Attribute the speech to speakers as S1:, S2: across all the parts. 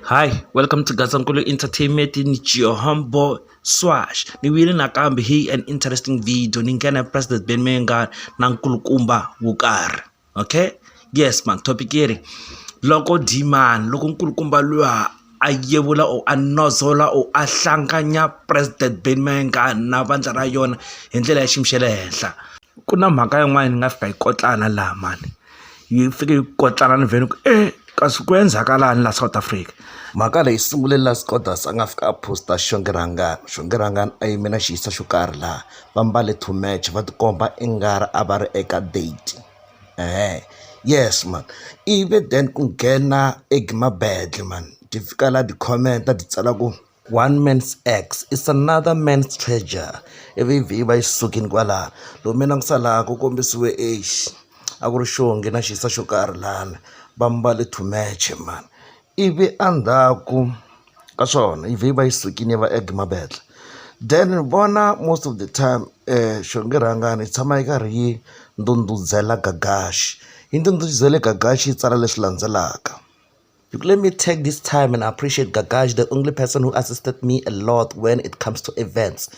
S1: Hi, welcome to Gazankulu Entertainment in Johombo Swash. Ni wile nakambe hi an interesting video ni nghena President Ben Menga na nkulukumba Wukar. Okay? Yes man, topic iri loko Diman, loko nkulukumba lwa a yevula or a nodzola or a hlanganya president Benny Mayengani na vandla ra yona hi ndlela ya xiyimo xa le henhla ku na mhaka yin'wana ni nga fika yi kotlana laha mani yi fike yi kotlana ni vhele ku e kasi ku endzakalani laha South Africa mhaka leyi sungule la Scodas a nga fika a post-a Xongirhangani Xongirhangani a yime na xiyisa xo karhi laha va mbale two match va tikomba i nga ri a va ri eka date. eeh yes mhani ivi then ku nghena e Gumabedlhe mhani ti fika la ti comment ti tsala ku one man's ex is another man's treasure ivi vhi yi va yi sukile kwala lomu mina ku sala ku kombisiwe exi a ku ri xihongi na xisa xo karhi lani va mbale to match mhani. Ivi endzhaku ka swona yi vhe yi va yi sukile yi va add mavele then vona most of the time xingirhangani yi tshama yi karhi yi ndhundhuzela gagax yi ndhundhuzele gagax yi tsala leswi landzelaka let me take this time and appreciate gagax the only person who assistant me a lot when it comes to events.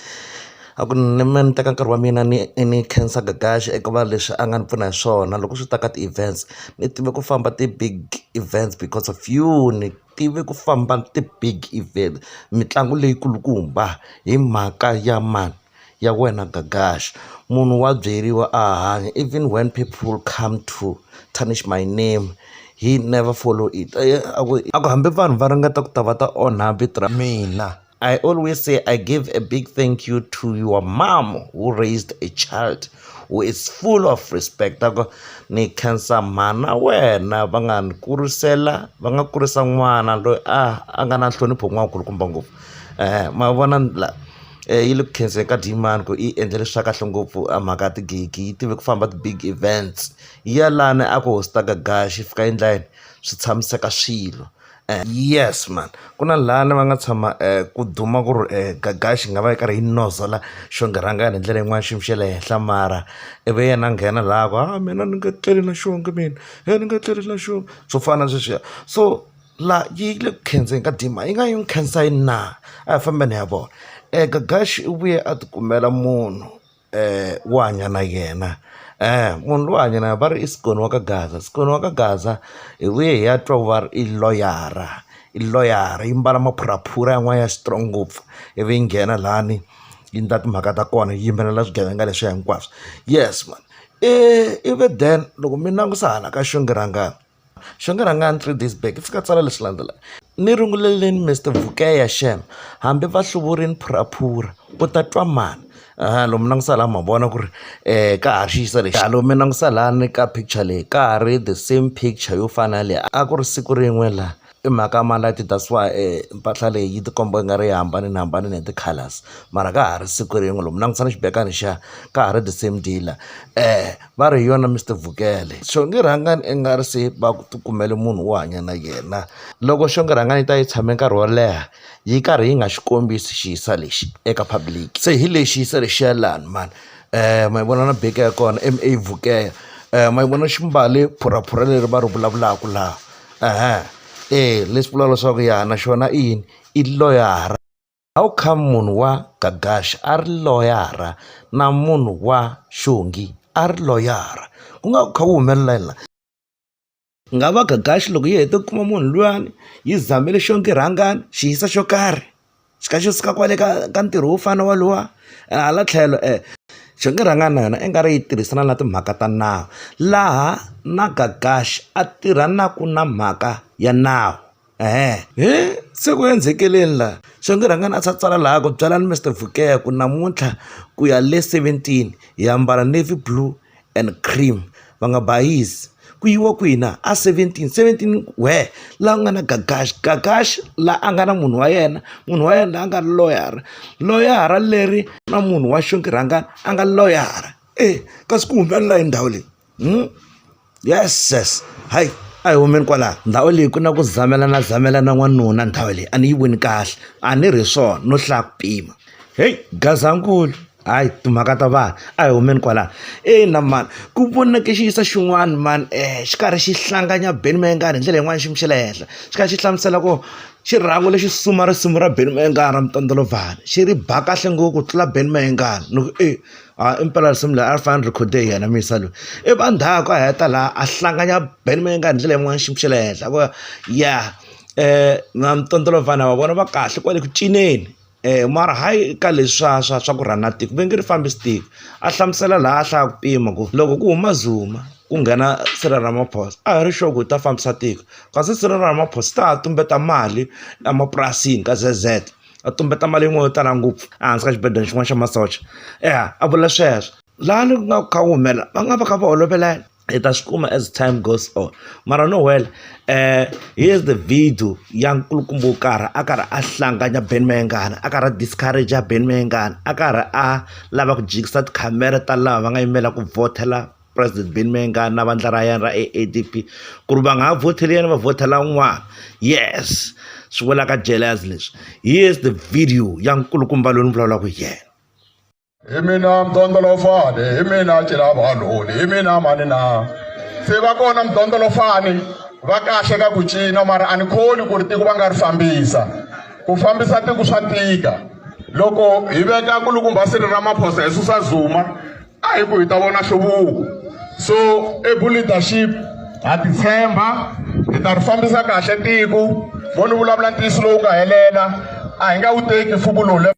S1: A ku ni mina ni teka nkarhi wa mina ni ni khensa Gagash eka va leswi a nga ni pfuna hi swona loko swi ta ka ti-events ni tive ku famba ti-big events because of you ni tive ku famba ti-big event mitlangu leyi kulukumba hi mhaka ya mani ya wena Gagash munhu wa byeriwa a hanya even when people come to tarnish my name he never follow it a ku hambi vanhu va ringeta ku ta va ta onha vito ra mina. I always say I give a big thank you to your mom who raised a child who is full of respect ako ni khensa mhana wena va nga ni kurisela va nga kurisa n'wana loyi a a nga na nhlonipho n'wankulukumba ngopfu um ma vona la um yi le ku khenseni ka dyimani ku yi endlele swa kahle ngopfu a mhaka ya tigigi yi tive ku famba ti-big events yi ya lani a ku hostaka gaxi yi fika endla yini swi tshamiseka swilo Yes mhani ku na lani va nga tshama ku duma ku ri Gagax yi nga va yi karhi yi nozela xonge rhangani hi ndlela yin'wani xiyimo xa le henhla mara i vi yena a nghena laha a ku ha mina ni nge tleli na xonge mina he ni nge tleli na xona swo fana na sweswiya so la yi le ku khandziyeni ka dima yi nga yi n'wi khensa yini na a hi fambeni hi ya vona Gagax u vuye a ti kumela munhu. wo hanya na yena munhu loyi u hanya na yena va ri i Scony wa ka gaza Scony wa ka gaza hi vuye hi ya twa ku va ri i loyara i loyara yi mbala maphuraphura yan'wana ya strong ngopfu ivi yi nghena lani yi endla timhaka ta kona yi yimbelela swigevenga leswiya hinkwaswo yes mani ivi then loko mi langutisa hala ka xinghirangani. Xo ni rhanga ni three days back ndzi fika tsala leswi landzelaka. Ni runguleleni Mister Vukeya shame hambi va hluvurile phuraphura u ta twa mani a lomu na ku sala ma vona ku ri ka ha ri xi yisa lexi a lomu na ku salani ka picture leyi ka ha ri the same picture yo fana na leyi a ku ri siku rin'we laha. I mhaka ya malati that's why mpahla leyi yi ti komba nga ri yi hambanihambanile hi ti-colours mara ka ha ri siku rin'we loko mi langutisa na xibelani xa ka ha ri the same dealer va ri hi yona Mister Vukele so nge rhangani i nga ri se va ku ti kumele munhu wo hanya na yena loko xo nge rhangani yi ta yi tshame nkarhi wo leha yi karhi yi nga xi kombisi xi hisa lexi eka public se hi lexi yisa lexiya lani mani ma yi vona na beke ya kona M_A Vukele ma yi vona xi mbale phuraphura leri va ri vulavulaka laha. eya leswi vulaka leswaku ya na xona i yini i loyara how come munhu wa gagaxa a ri loyara na munhu wa xongi a ri loyara ku nga ku kha ku humelela yini la ku nga va gagaxi loko yi hete ku kuma munhu luyani yi zamele xongi rhangani xi yisa xo karhi. xi kha xi suka kwale ka ka ntirho wo fana na wolowo hala tlhelo xi nga rhanga na yona i nga ri yi tirhisana na timhaka ta nawu laha na Gagash a tirhanaka na mhaka ya nawu se ku endzekeleni laha xi nga rhanga a tsala laha ku byalani Mister Vukele ku namuntlha ku ya le seventeen hi ambala navy blue and cream va nga bayisi ku yiwa kwihi na a seventeen seventeen where laha ku nga na gagax gagax laha a nga na munhu wa yena munhu wa yena laha a nga ri loyara loyara leri na munhu wa xinghirangani a nga loyara e kasi ku humelela hi ndhawu leyi yeses hayi a hi humeni kwalaho ndhawu leyi ku na ku zamelana zamelana n'wanuna ndhawu leyi a ni yi voni kahle a ni ri swona no hlaya ku pima heyi gazankulu hayi timhaka ta vanhu a hi humeni kwalano ina mani ku voneke xi yisa xin'wana mani um xi karhi xi hlanganya benny mayengani hi ndlela yin'wani xiyimo xa le henhla xi kha xi hlamusela ku xirhangu lexi suma risimu ra benny mayengani ra mutondlovhani xi ri ba kahle ngopfu ku tlula benny mayengani ni ku e a i mpela risimu leri a ri fanele ni record-e hi yena muyisa loyi i va ndhaku a heta laha a hlanganya benny mayengani hi ndlela yin'wani xiyimo xa le henhla ku ya um na mutondlovhani wa vona va kahle kwale ku cineni. mara hayi ka leswi swa swa swa ku rhanda tiko va nge ri fambisi tiko a hlamusela laha a hlaya ku pima ku loko ku huma zuma ku nghena Cyril Ramaphosa a hi ri sure ku u ta fambisa tiko kasi Cyril Ramaphosa se a ha tumbeta mali emapurasini ka Z_Z a tumbeta mali yin'wani yo tala ngopfu ehansi ka xibedhlele xin'wana xa masocha ya a vula sweswo laha ni ku nga ku kha ku humelela va nga va kha va holovelana. hi ta swi kuma as time goes on mara no well um here's the video ya nkulukumba wo karhi a karhi a hlanganya ben mayengana a karhi a discourage ya ben mayengana a karhi a lava ku jikisa tikhamera ta lava va nga yimela ku vhotela president ben mayengana na vandla ra yena ra a a d p ku ri va nga ha vhoteli yena va vhotela un'wana yes swi vulaka jealous leswi here's the video ya nkulukumba loyi ni vulavulaka hi yena hi mina
S2: mdondolofane hi mina cilavaloni hi mina mani na se va kona mdondolofane va kahle ka ku cina mara a ni khoni ku ri tiko va nga ri fambisa ku fambisa tiko swa tika loko hi veka kulukumba siri ra maphosa hi susa zuma a hi ku hi ta vona hluvuko so ebu leadership ha titshemba hi ta ri fambisa kahle tiko vo ni vulavula ntiyiso lowu nga helela a hi nga wu teki mfumo lowu